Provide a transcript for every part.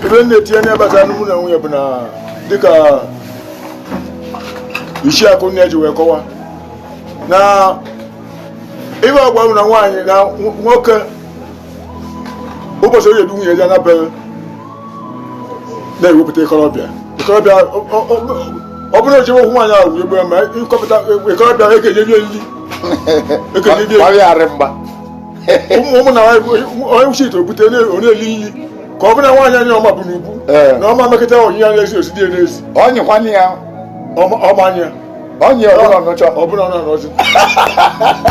ebe m na-etinye anya gbasara mụ na nwunye bụ na dịka isi akụ nne ji wee kọwa na ibe agwa na nwaanyị na nwoke ụbọchị onye du nwunye ya na be ya na-ewepụta ikorobịa ikorobịa ọ bụrụ echewe okwu nwaanyị ahụ egbe ma ịkọpụta ikorobịa ekenye bie nri ekenye bie nri ụmụ ụmụ na onye kwụsị ite obute onye eli nri ka ọ bụrụ na nwaanyị anya ọma bụ n'ubu Ee. na ọma mekọta onyinye anya esi osi dị n'ezi onye kwanne ya ọma ọma anya onye ọbụla ọnụcha ọ bụrụ na ọ nọzi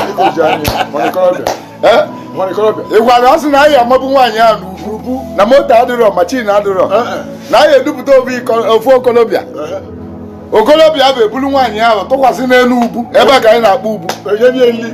dịka oji anya mana ikorobịa Eh? mana ikorobịa ị gwara ọ sị na anyị amabụ nwaanyị a n'ubu ubu na moto adịrọ machin adịrọ Eh, eh. na anyị edupụta ofu iko- ofu okolobịa Ehe. okolobịa bụ ebulu nwaanyị ahụ tụkwasị n'elu ubu ebe a ka anyị na-akpọ ubu enye nye nri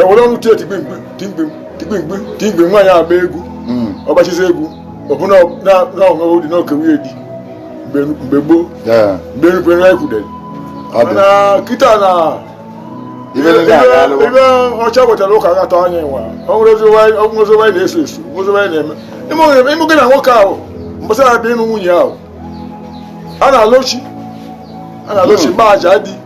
ewere ọnụ tie tigbimgbi tigbimgbi tigbimgbi tigbimgbi nwaanyị agba egwu hmm. ọgbachizi egwu ọbụna na-ahụhụ dị n'oke nwunye di mgbe gboo mgbe erubere na ekwudere mana kịta na ibe ọcha wetara ụka gata anyị nwa o nwerọzi nwanyị na-eso eso nwerọzi nwanyị na-eme ị mago na nwoke ahụ mbọsị ọ ya-abịa ịnụ nwunye ahụ a na-alọ chi a na-alọ chi mgba hmm. aja di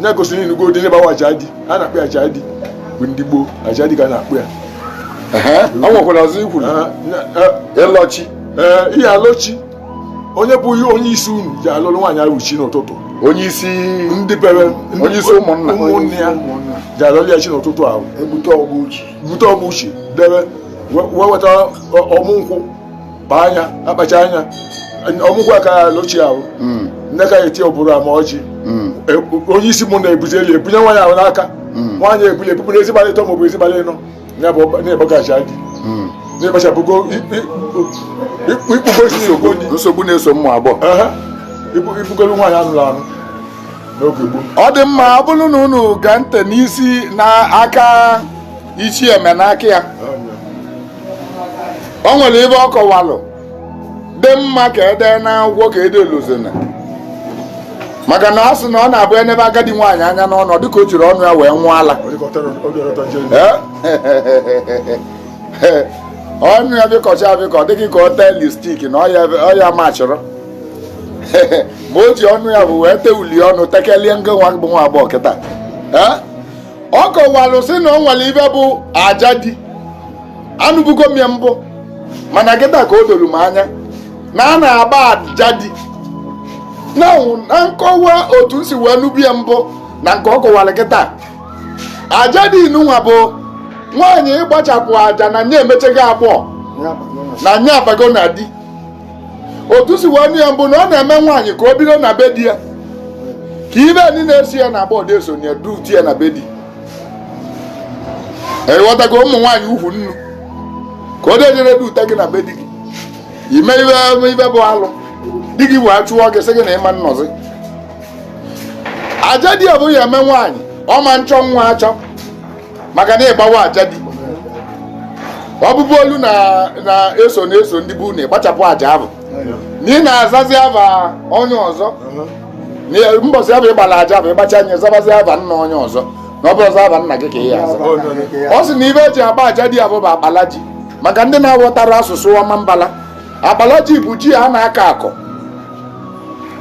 nya gosiri ị nụgo ụdị ihe bawa aja di a na-akpọ ya aja di bụ ndị gboo aja di ka a na-akpọ ya o nwekwara ọzọ i kwuru ịlọ chi ee ihe alọ chi onye bụ onye isi unu ji alọrọ nwaanyị ahụ chi n'ụtụtụ onye isi ndị be ya onye isi ụmụnna ụmụnne ya ji alọrọ ya chi n'ụtụtụ ahụ ebute ọgbụ chi bute ọgbụ chi debe wee weta ọmụ nkwụ kpaa nya akpacha nya ọmụ nkwụ a ka ya alọ chi ahụ mm. nne ka ya eti ọbụrụ ama ọjị mm. e, onye isi ụmụnna ebuzielu ebunye nwaanyị ahụ n'aka mm. nwaanyị ebuli ọ bụrụzie abalị ịtọ maọbụzie abalị ịnọ na-ebọgachi adị na-ekpachapụgo ikpugosi nsogbu na-eso ụmụ agbọghọ ị bụgolu nwaanyị a nụrụ anụ ọ dị mma ọ bụrụ na unu gee ntị n'isi n'aka ichie Emenakaya o nwere ibe ọ kọwalụ dị mma ka e dee n'akwụkwọ ka ede lozona maka na ọ sị na ọ na-abụ e nebe agadi nwaanyị anya n'ọnụ ọ dịka o jirọ ọnụ ya wee ṅụọ ala ọnụ ya pịkọcha apịkọ dị gị ka ọ tee lipstik na ọ ya machịrị ma o ji ọnụ ya bụ wee tee uli ọnụ tekelie nge nwa bụ nwa agbọghọ kịta ọ kọwalụ sị na o nwere ive bụ aja di anụbugo m ya mbụ mana kịta ka o doro m anya na a na-agba aja di na nkọwa otu m si wee nụbu ya mbụ na nke ọ kọwara kịta aja di nụnwa bụ nwaanyị ịgbachapụ aja na nye emechego agbọọ na nye abago na di otu m si wee nụ ya mbụ na a na-eme nwaanyị ka o bido na be di ya ka ive ndị na-esi ya na agbọọ adị esonye ya duti ya na be di ị ghọtago ụmụ nwaanyị ukwu nnu ka o dejere dute gị na be di gị i mee ive bụ alụ di gị wee chụọ gị sị gị na ị ma nọzi aja di ahụ ọ ya-eme nwaanyị ọ ma chọ nwa achọ maka na ịgbawa aja di ahụ bụ olu na-eso na-eso ndị bụ na ịgbachapụ aja ahụ na ị na-azazi ava onye ọzọ mbọsị ahụ ị gbalụ aja ahụ ị gbachaa nya zabazi ava nna onye ọzọ na ọ bụrọzị ava nna gị ka ị ya-aza ọ sị na ive e ji agba aja di ahụ bụ akpala ji maka ndị na-aghọtarọ asụsụ ọmambala akpala ji bụ ji a na-akọ akọ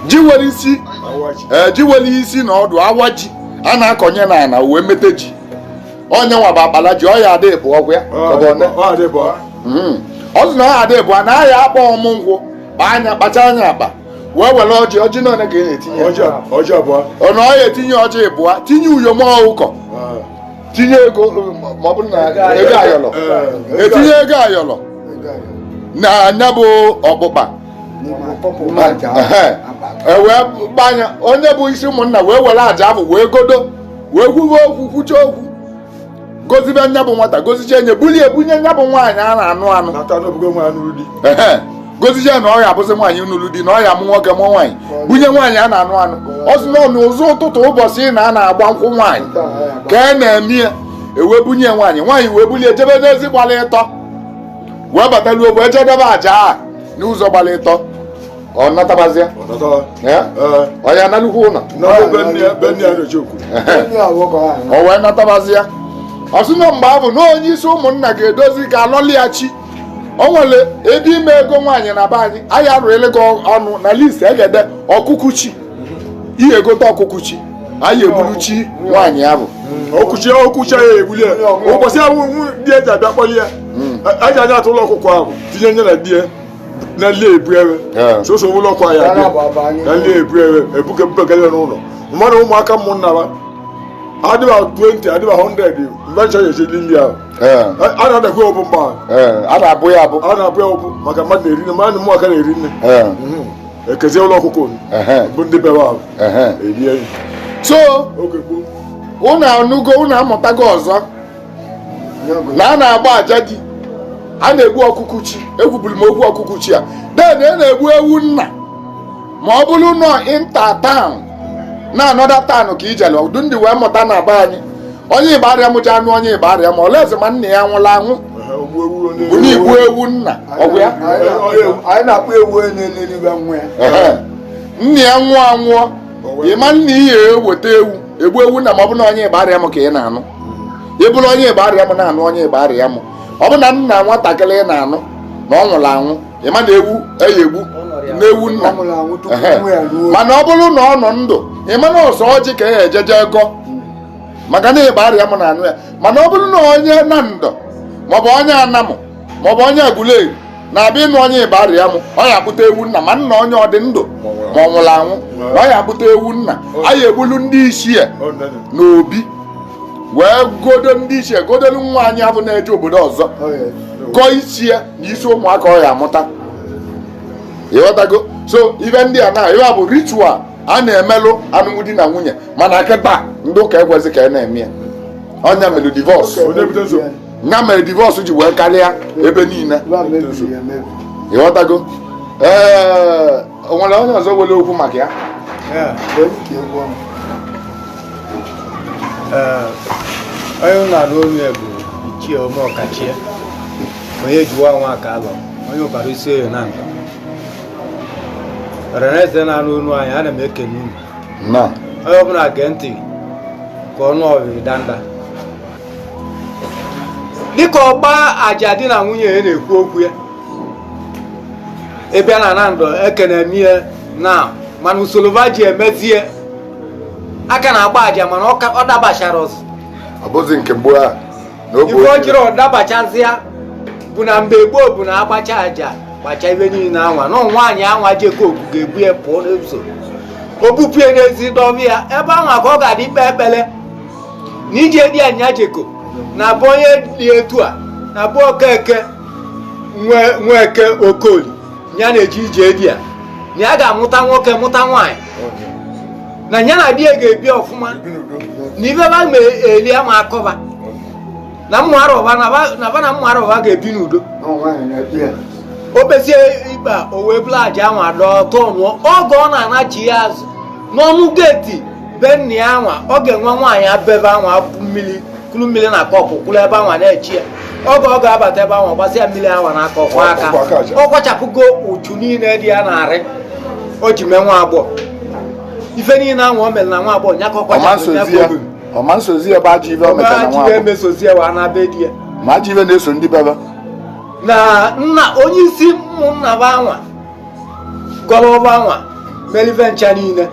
ji nwere isi eh, ji nwere isi na ọdụ awa ji a na-akọnye na ana wee mete ji ọ nye nwa bụ akpala ji ọ ya-adị ịbụọ ọ kwa ya hmm. ọ sị na ọ ya-adị ịbụa na a ya-akpa ọmụ nkwụ kpaa nya kpachaa nya akpa wee were ọjị ọjị na one ka ị na-etinye ọ na ọ ya-etinye ọjị ịbụa tinye uyom ọkụkọ tinye ego ma ọ bụrụ na ego ayọlọ etinye ego ayọlọ na nya bụ ọkpụkpa e wee gbanya onye bụ isi ụmụnna wee were aja ahụ wee godo wee kwuwe okwu kwucha okwu gozibe nya bụ nwata goziche nye bulie ebunye nya bụ nwaanyị a na-anụ anụ goziche na ọ ya-abụzi nwaanyị nụrụ di na ọ ya-amụ nwoke mụ nwaanyị bunye nwaanyị a na-anụ anụ ọ sị na ọ n'ụzọ ụtụtụ ụbọchị na a na-agba nkwụ nwaanyị ka a na-eme ya e wee bunye nwaanyị nwaanyị wee bulie jebe n'ezi gbara ịtọ wee bata n'ugbo wee jedebe aja a n'ụzọ gbara ịtọ ọ natabazịa ọ ya-analukwu ụlọ o wee natabazịa ọ sị na mgbe ahụ na onye isi ụmụnna ga-edozi ka a lọlị ya chi o nwere ebe ime ego nwaanyị na be anyị anyị arụele gị ọnụ na list e ga-ede ọkụkụ chi ị ye-egote ọkụkụ chi anyị egburu chi nwaanyị ahụ okwu chi okwu chi ya ebuli ya ụbọchị ahụ di ye ji abịa kpọli ya hmm. aja anya atụ ụlọ ọkụkọ ahụ tinye nye na di ya na nli ebu ewe soso ụlọ ọkụ ya na nli ebu ewe ebuke mpekele n'ụlọ mmadụ ụmụaka ụmụnna ha adịba 20 adịba 100 mgbe ncha ya chedi nri ahụ a na-adakwa ọbụ mgbe a na-abụ ya abụ a na-abụ ya ọbụ maka mmadụ na-eri nne mmadụ ụmụaka na-eri nne hmm. ekezie ụlọ ọkụkọ bụ ndị bewa ahụ erie so ụnụ anụgo ụnụ amụtago ọzọ na a na-agba aja di a na-egbu ọkụkụ chi ekwuburu m okwu ọkụkụ chi a then a na-egbu ewu nna ma ọ bụrụ na ọ inter town na another town ka ijele ọdụ ndị wee mụta na be anyị onye Igbariam ya anụ onye Igbariam o lezie ma nna ya nwụrụ anwụ bụ na igbu ewu nna ọ bụ ya anyị na-akpọ ewu onye na-eliro ibe nwa ya nna ya nwụọ anwụọ ị ma na e ye eweta ewu egbu ewu nna ma ọ bụ na onye Igbariam ka ị na-anụ ị bụrụ onye Igbariam na-anụ onye Igbariam ọ bụ na nna nwatakịrị ị na-anụ na ọ nwụrụ anwụ ị ma na ewu e ye egbu na ewu nna mana ọ bụrụ na ọ nọ ndụ ị ma na ọ sọ ọjị ka a ya eji je gọọ maka na Igbariam na-anụ ya mana ọ bụrụ na onye Nando maọbụ onye Anam maọbụ onye Aguleri na-abịa ịnụ onye Igbariam ọ ya akpụta ewu nna ma nna onye ọ dị ndụ ma ọ nwụrụ anwụ na ọ ya akpụta ewu nna anyị egbulu ndị ichie n'obi wee gọdo ndị ichie gọdolu nwaanyị abụ na-eje obodo ọzọ gọọ isi ya na isi ụmụaka ọ ya amụta ị ghọtago so ibe ndị a na ibe a bụ ritual a na-emelụ alụmdi na nwunye mana kịta ndị ụka ekwezi ka a na-eme ya ọ nya melụ divorce ya mere divorce ji wee karịa ebe niile ị ghọtago ee o nwere onye ọzọ nwere okwu maka ya onye na-anụ olu ya bụ ichie Omeọkachie onye jiwa nwa ka alọ onye Ụbaru Isioye na nka ọra na eze na-anụ olu anyị ana m ekene unu na onye ọbụla gee ntị ka ọ nụ ọbịrị danda dịka ọgba aja di na nwunye a na-ekwu okwu ya ị bịa na Nando a ka na-eme ya na mana usoro va ji emezie a ka na-agba aja mana ọ ka- ọ dabacharọzị ọ bụzi nke gboo a na oge ife o jirọ dabachazịa bụ na mgbe gboo bụ na a gbacha aja gbacha ibe niile anwa na nwaanyị anwa jeko oku ga-ebu ya pụọ n'ụzọ o bupụ ya n'ezi dọba ya ebe anwa ka ọ ga-adị ikpe ekpere na ije di a nya jeko na abụ onye dị etu a na abụ okeke nweke okoli ya na-eje ije di a na ya ga-amụta nwoke mụta nwaanyị na ya na di ya ga-ebi ọfụma na ibe ba ma eli ama akọ ba na mmụara ụba na ba- na ba na mmụara ụba ga-ebi n'udo o kpezie ikpe a, o wee buru aja anwa dọọ tụọ nwụọ oge ọ na-anachi ya azụ n'ọnụ geeti be nna ya anwa ọ ga-enwe nwaanyị abebe anwa akwụ mmiri kuru mmiri na kọpụ kwụrụ ebe anwa na-eche ya oge ọ ga-abata ebe anwa gbasịa mmiri anwa n'aka ọ kwaa aka ọ kwaa aka aja. ọ kwachapụgo uchu niile dị ya n'arụ o ji mee nwa agbọghọ ife niile anwa o mere na nwa agbọghọ nya ka ọ kwachapụ ya. ọ ma esozi ya bụ ajọ ife o metara na nwa agbọghọ ama esozi ya wa na be di ya ma ajọ ife na-eso ndị bebe na nna onye isi ụmụnna ba anwa gọrọ ọfọ anwa mere ife ncha niile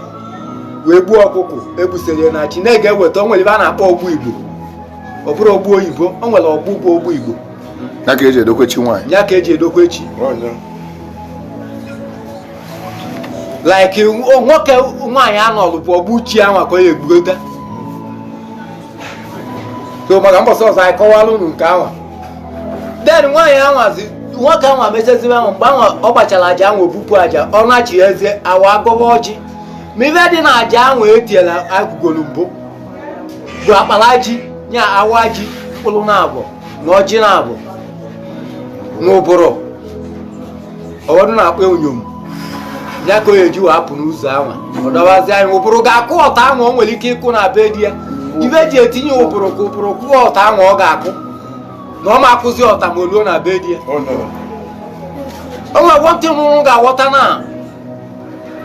wee gbuo ọkụkụ e gbusiri ya na chi na e ga-eweta o nwere ife a na-akpọ ọgbụ igbo ọ bụrọ ọgbụ oyibo o nwere ọgbụ bụ ọgbụ igbo ya ka eji edokwa chi nwaanyị ya ka eji edokwa chi like nwoke nwaanyị anọlụ bụ ọgbụ chi ya nwa ka ọ ya egbugota so maka mbọsị ọzọ anyị kọwaara unu nke anwa den nwaanyị anwazi nwoke anwa mechazi ife anwa mgbe anwa ọ gbachara aja anwa o bupụ aja ọ nachizie awa agọba ọjị ma ife dị na aja anwa etiela agụgolu mbụ bụ akpara ji nya awa ji mkpụrụ na abụọ na ọjị na abụọ na ụbụrụ ụfọdụ na-akpọ uyom ya ka ọ ya eji wa apụ n'ụzọ anwa ọ dọwazi n'anị ụbụrụ ga-akụ ọta anwa o nwere ike ịkụ na be di ya ife e ji etinye ụbụrụ ka ụbụrụ kụọ ọta anwa ọ ga-akụ na ọ ma akụzi ọta ma o luo na be di ya o nwere nwantị unu ga-aghọta na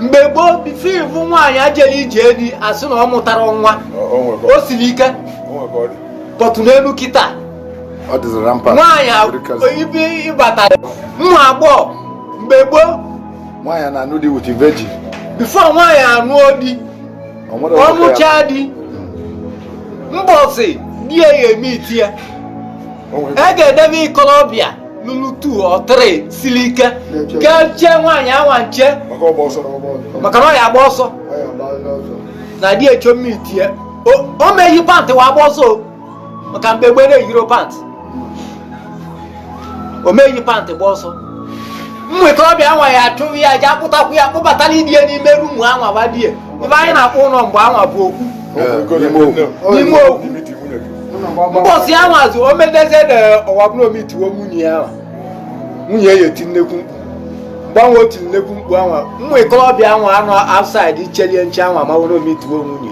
mgbe gboo bifo ị fụ nwaanyị ejerọ ije di a sị na ọ mụtara nwa o siri ike but n'elu kịta nwaanyị ibe ịbata nwa agbọghọ mgbe gboo nwaanyị na-anụ di with virgin bifo nwaanyị anụọ di ọ nụchaa di mbọsị di ya ga-emetụ ya e ga-edebe ikolobịa ruru two or three siri ike ga-eche nwaanyị anwa nche maka na ọ ya agba ọsọ na di ya chọ imetụ ya o meghị pantị wa agba ọsọ maka mgbe gboo e yiro pantị o meghị pantị gba ọsọ ụmụ ikolobịa anwa ya achụrụ ya jee kpụtakwu ya kpụbatara di ya n'ime rumu anwa be di ya ife anyị na-akpọ ụlọ mgbe anwa bụ okwu n'ime okwu mbọsị anwazi o medezie na ọ wa bụrụ o metụwa nwunye ya nwunye ya etie nnekwu mkpu mgbe anwa o tiri nnekwu mkpu anwa ụmụ ikolobịa anwa anọ outside chere nche anwa ma ọ bụrụ o metụwa nwunye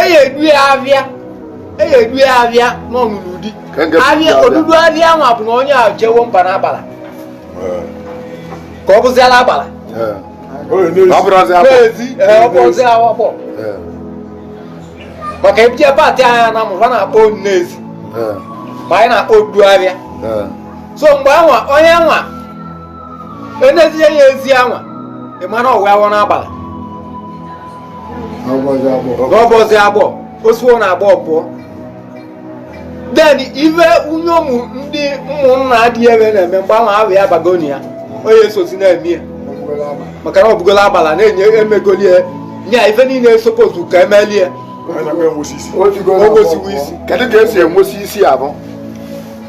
eyi edu ya abịa eyi edu ya abịa n'ọnụnụ di abịa odudu abịa anwa bụ na onye ejewo ba n'agbala ka ọ bụziala agbala ọ bụrụzi awakpọ maka ebije pati anya na mụrụ na-akpọ ine ezi ma anyị na-akpọ odudu abịa so mgbe anwa onye anwa enezie ya ezi anwa ị mara ọ bawo n'agbala n'ọ bụọzi agbọ o siwo na agbọ pụọ then ife unyomu ndị ụmụnna dị ebe na-eme mgbe anwa ahụ ya bagoni ya onye esozi na-eme ya maka na ọ bụgola agbala na-enye emegoli ya nya ife niile esopozu ka emeli ya o gosiwo isi kedu ka e si enwesi isi abụ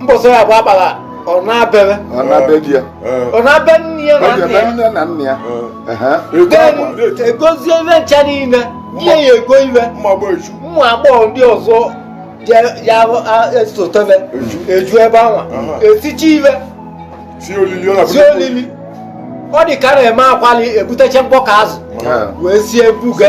mbọsị ya bụ agbala ọ na-abere ọ naa be di ya ọ naa be nne ya ọ na ga-eme nne ya nne na nna ya Ehe. Ego akwa, na-eti egozie ife ncha niile ihe ya ego iwe mma gba eju ụmụ agbọghọ ndị ọzọ ya- ya a- esotebe eju ebe anwa Aha. eticha iwe sie olili ọ sie na-abụ olili ọ dị ka a na-eme akwali ebutecha mkpọ ka azụ Ehe. wee sie buga